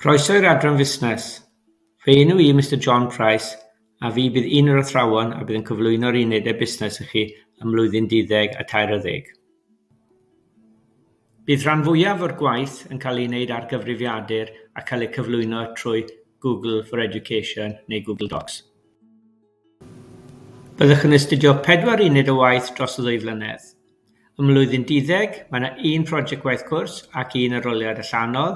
Croeso i'r adran fusnes. Fy enw i Mister John Price a fi bydd un o'r athrawon a bydd yn cyflwyno'r unedau busnes i chi ym mlwyddyn duddeg a tair a ddeg. Bydd rhan fwyaf o'r gwaith yn cael ei wneud ar gyfrifiadur a cael eu cyflwyno trwy Google for Education neu Google Docs. Byddwch yn astudio pedwar uned o waith dros y ddwy flynedd. Ym Mlwyddyn Duddeg, mae yna un prosiect gwaith cwrs ac un arholiad allanol.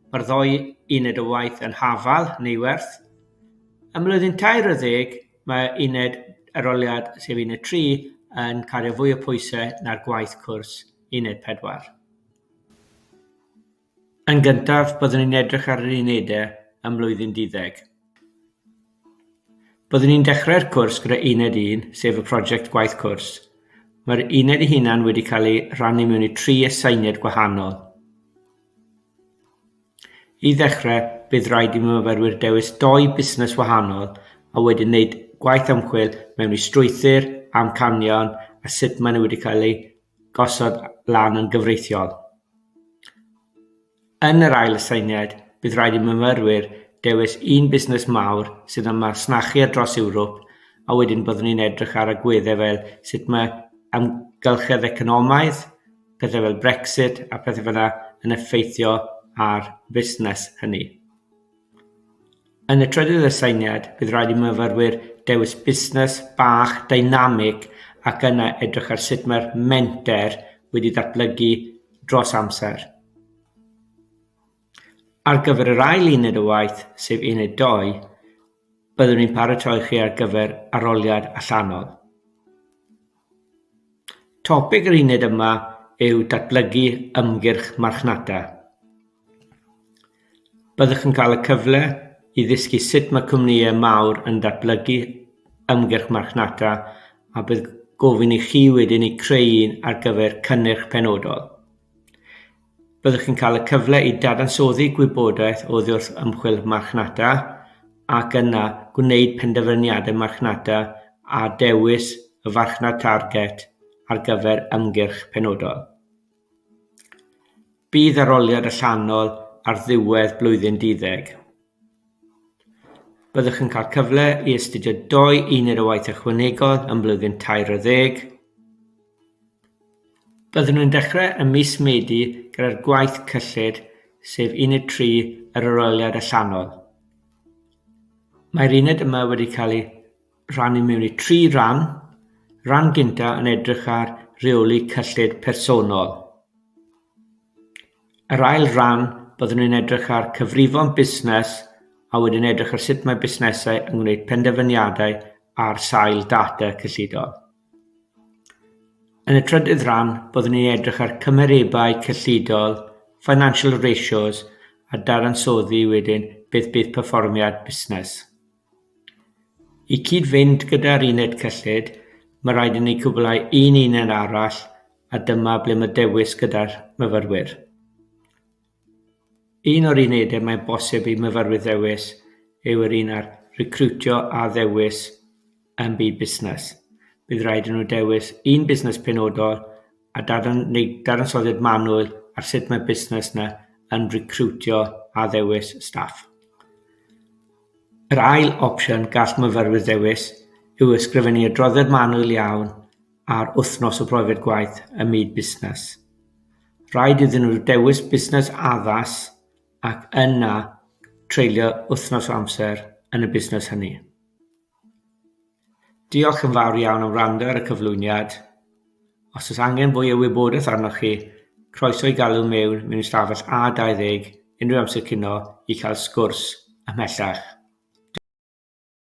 Mae'r ddou uned o waith yn Hafal, Neiwerth. Ym Mlwyddyn 40, mae uned arholiad, sef uned 3, yn cario fwy o pwysau na'r gwaith cwrs uned 4. Yn gyntaf, byddwn ni'n edrych ar yr unedau ym mlwyddyn duddeg. Byddwn ni'n dechrau'r cwrs gyda uned 1, sef y prosiect gwaith cwrs. Mae'r uned ei hunan wedi cael ei rannu mewn i tri aseiniad gwahanol. I ddechrau, bydd rhaid i myfyrwyr dewis doi busnes wahanol a wedyn wneud gwaith ymchwil mewn i strwythur, amcanion a sut maen nhw wedi cael eu gosod lan yn gyfreithiol. Yn yr ail aseiniad, bydd rhaid i myfyrwyr dewis un busnes mawr sydd yn masnachu ar dros Ewrop a wedyn byddwn ni'n edrych ar agweddau fel sut mae amgylchedd economaidd, pethau fel Brexit a phethau fel yna yn effeithio ar fusnes hynny. Yn y trydydd aseiniad, bydd rhaid i myfyrwyr dewis busnes bach deinamig ac yna edrych ar sut mae'r menter wedi datblygu dros amser. Ar gyfer yr ail uned o waith, sef uned 2, byddwn ni'n paratoi chi ar gyfer arholiad allanol. Topig yr uned yma yw datblygu ymgyrch marchnata. Byddwch yn cael y cyfle i ddysgu sut mae cwmnïau mawr yn datblygu ymgyrch marchnata a bydd gofyn i chi wedyn eu creu un ar gyfer cynnyrch penodol. Byddwch chi'n cael y cyfle i dadansoddi gwybodaeth oddiwrth ymchwil marchnata ac yna gwneud penderfyniadau marchnata a dewis y farchnad target ar gyfer ymgyrch penodol. Bydd arholiad allanol ar ddiwedd blwyddyn duddeg. Byddwch yn cael cyfle i astudio dou uned o waith ychwanegol yn blwyddyn tair o ddeg. Byddwn yn dechrau ym mis Medi gyda'r gwaith cyllid, sef uned 3 yr aroliad allanol. Mae'r uned yma wedi cael ei rhannu mewn i tri ran, ran gynta yn edrych ar reoli cyllid personol. Yr ail ran, byddwn yn edrych ar cyfrifon busnes a wedyn edrych ar sut mae busnesau yn gwneud penderfyniadau ar sail data cyllidol. Yn y trydydd ran, byddwn ni'n edrych ar cymerebau cyllidol, financial ratios, a dadansoddi wedyn beth bydd perfformiad busnes. I gyd-fynd gyda'r uned cyllid, mae rhaid i ni gwblhau un uned arall a dyma ble mae dewis gyda'r myfyrwyr. Un o'r unedau mae'n bosib i myfyrwyr ddewis yw yr un ar Recriwtio a Dewis ym Byd Busnes. Bydd rhaid i nhw ddewis un busnes penodol a dadan- neu dadansoddiad manwl ar sut mae'r busnes yna yn recriwtio a ddewis staff. Yr ail opsiwn gall myfyrwyr ddewis yw ysgrifennu adroddiad manwl iawn ar wythnos o brofiad gwaith ym myd busnes. Rhaid iddyn nhw ddewis busnes addas ac yna treulio wythnos o amser yn y busnes hynny. Diolch yn fawr iawn am wrando ar y cyflwyniad. Os oes angen fwy o wybodaeth arnoch chi, croeso i galw mewn mewn ystafell A20 unrhyw amser cino i cael sgwrs ymhellach.